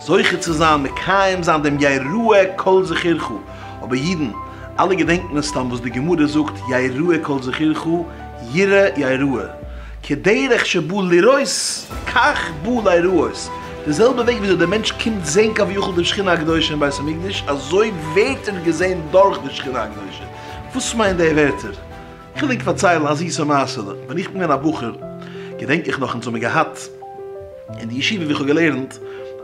זוכה צו זיין מקיים זיין דעם יראה כל זכירך, אבער אידן אלע געדענקט מסתם וואס די גמרא זאגט יראה כל זכירך ירא יראה, כדרך שבא לראות כך בא להיראות, די זעלבע וועג וויאזוי דער מענטש קומט זען כביכול די שכינה הקדושה אין בית המקדש, אזוי ווערט ער געזען דורך די שכינה הקדושה, וואס מיינט די ווערטער? כ'וויל ענק פארציילן א זיסע מעשה'לע, ווען איך בין געווען א בחור, געדענק איך נאך אונז האבן געהאט אין די ישיבה ווי איך האב געלערנט,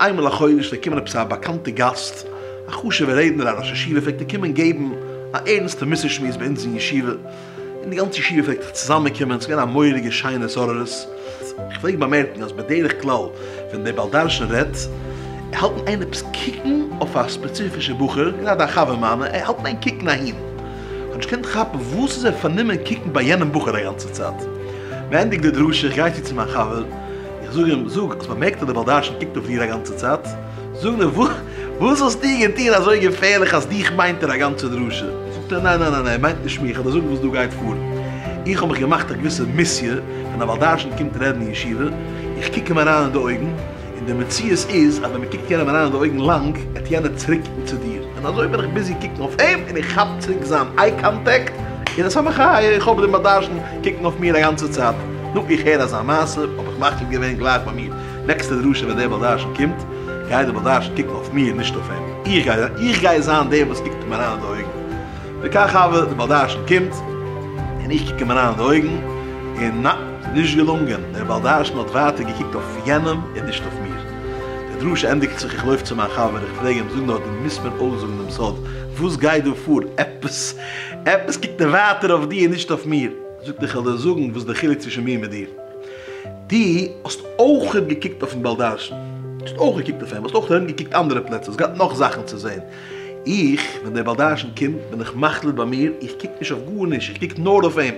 איינמאל א חודש פלעגט קומען עפעס א באקאנטע גאסט, א חשובע רעדנער א ראש ישיבה פלעגט ער קומען געבן א ערנסטע מוסר שמועס ביי אונז אין ישיבה, און די גאנצע ישיבה פלעגט זיך צוזאמען קומען, ס'איז געווען א מורא'דיגע שיינע התעוררות, איך פלעג באמערקן אז בדרך כלל ווען דער בעל דרשן רעדט, ער האלט ענק עפעס קוקן אויף א ספעציפישע בחור, גראדע א חבר מיינע, ער האלט ענק קוקן אהין. כ'האב נישט געקענט כאפן וואס איז ער פארנומען קוקן ביי יענעם בחור א גאנצע צייט. מ'ענדיגט די דרשה איך גיי צו צו מיין חבר, איך זאג אים, זאג, האסט באמערקט אז דער בעל דרשן קוקט אויף דיר א גאנצע צייט? זאג נאר, וואס האסטו געטון אזוי געפערליך אז דיך מיינט ער א גאנצע דרשה? זאגט ער, ניין ניין ניין, ער מיינט נישט מיך, כ'וועל דיר זאגן וואס דא גייט פאר, איך האב מיך געמאכט א געוויסע מיסיע, ווען א בעל דרשן קומט רעדן אין ישיבה, איך קוק אים אריין אין די אויגן, און די מציאות איז אז ווען מ'קוקט יענעם אריין אין די אויגן לאנג, העט יענער צוריקקוקן צו דיר, און אזוי בין איך ביזי קוקן אויף אים און איך כאפ צוריק זיין איי קאנטעקט, און עס האט מיך א איך האב דעם באדארשן קוקן אויף מיר א גאנצע צייט, נו איך הער אזא מעשה האב איך מחליט געווען גלייך ביי מיר נעקסטע דרשה ווען דער באדארשן קומט גייט דער באדארשן קוקן אויף מיר נישט אויף אים, איך גיי איך גיי זיין דער וואס קוקט אים אריין אין די אויגן, וכך הוה דער באדארשן קומט און איך קוק אים אריין אין די אויגן און. ס'איז נישט געלונגען, דער בעל דרשן האט ווייטער געקוקט אויף יענעם און נישט אויף מיר. די דרשה ענדיגט זיך, איך לויף צו מיין חבר, איך פרעג אים, זאג נאר, דו מוזט מיר אויסזאגן דעם סוד, וואס גייט דא פאר, עפעס עפעס קוקט ער ווייטער אויף דיר און נישט אויף מיר. זאגט איך וועל דיר זאגן וואס די חילוק צווישן מיר מיט דיר, דו האסט אויכעט געקוקט אויפן בעל דרשן, האסט אויך געקוקט אויף אים, האסט אויך ארום געקוקט אנדערע פלעצער, האסט געהאט נאך זאכן צו זען, איך ווען דער בעל דרשן קומט בין איך מחליט ביי מיר, איך קוק נישט אויף גארנישט, איך קוק נאר אויף אים.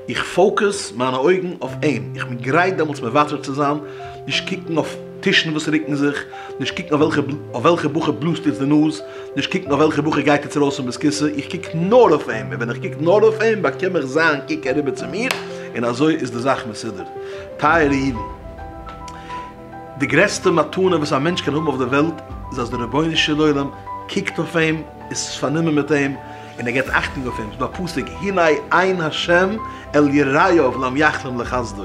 איך פאוקעס מיינע אויגן אויף אים, איך בין גרייט דעמאלטס מוותר צו זיין, נישט קוקן אויף טישן וואס רוקן זיך, נישט קוקן אויף וועלכע בחור בלאזט איצט די נאז, נישט קוקן אויף וועלכע בחור גייט איצט ארויס פון בית כסא, איך קוק נאר אויף אים, און ווען איך קוק נאר אויף אים באקום איך זיין קוק אריבער צו מיר, און אזוי איז די זאך מסודר. טייערע אידן, די גרעסטע מתנה וואס א מענטש קען האבן אויף דער וועלט איז אז דער רבונו של עולם קוקט אויף אים, איז פארנומען מיט אים, און ער געבט אכטונג אויף אים, ס'איז דא א פסוק הנה עין השם אל יראיו לאם יחלום לחסדו,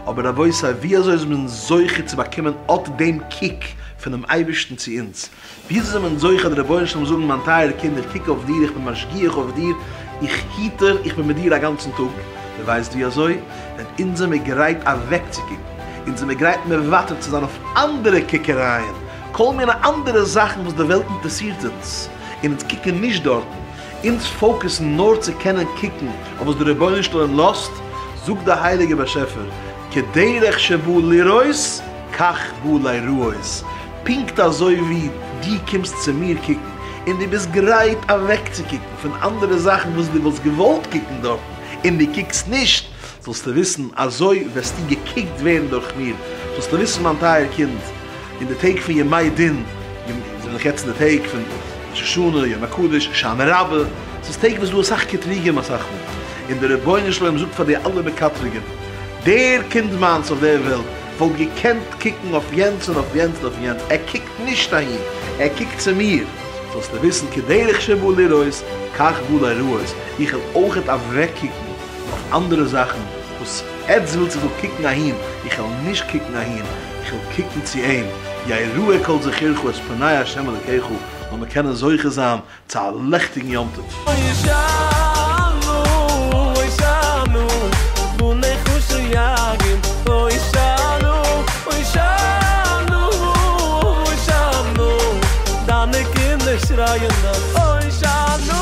אבער רבותי ווי אזוי איז מען זוכה צו באקומען אט דעם קוק פונעם אייבערשטן צו אונז, ווי אזוי איז מען זוכה די רבונו של עולם זאגן מיין טייערע קינד איך קוק אויף דיר, איך בין משגיח אויף דיר, איך היטער, איך בין מיט דיר א גאנצן טאג, איר ווייסט ווי אזוי? ווען אונז זעמיר גרייט אוועקצוקוקן, אונז זעמיר גרייט מוותר צו זיין אויף אנדערע קוקערייען, כל מיני אנדערע זאכן וואס די וועלט אינטערסירט אונז. און אונז קוקן נישט דארטן, אונז פאוקעסן נאר צו קענען קוקן אויף וואס דער רבונו של עולם לאזט, זאגט דער הייליגער באשעפער, כדרך שבא לראות כך בא להיראות, פונקט אזוי ווי דו קומסט צו מיר קוקן און דו ביסט גרייט אוועקצוקוקן פון אנדערע זאכן וואס דו וואלסט געוואלט קוקן דארטן און דו קוקסט נישט, זאלסטו וויסן, אזוי וועסטו געקוקט ווערן דורך מיר, זאלסטו וויסן מיין טייער קינד, אין די טעג פון ימי דין, ימ י זענען דאך יעצט אין די טעג פון ראש השנה, יום הקדוש, שנה רבה, עס איז טעג וואס איז דא אסאך קטרוגים אסאך מאל, און דער רבונו של עולם זאגט פאר די אלע מקטרגים, דער קינד מיינס אויף דער וועלט וואלט געקענט קוקן אויף יענץ און אויף יענץ און אויף יענץ, ער קוקט נישט אהין, ער קוקט צו מיר, זאלסטו וויסן, כדרך שבא לראות כך בא לראות, איך וועל אויכעט אוועקקוקן נאך אנדערע זאכן וואס עטס ווילטס איך זאל קוקן אהין, איך וועל נישט קוקן אהין, איך וועל קוקן צו אים, יהא ראה כל זכרך את פני ה' אלקיך, זאל מען קענען זוכה זיין צו א לעכטיגן יום טוב. הושענא הושענא בני חושן יגון הושענא הושענא הושענא דיינע קינדער שרייען נאך הושענא.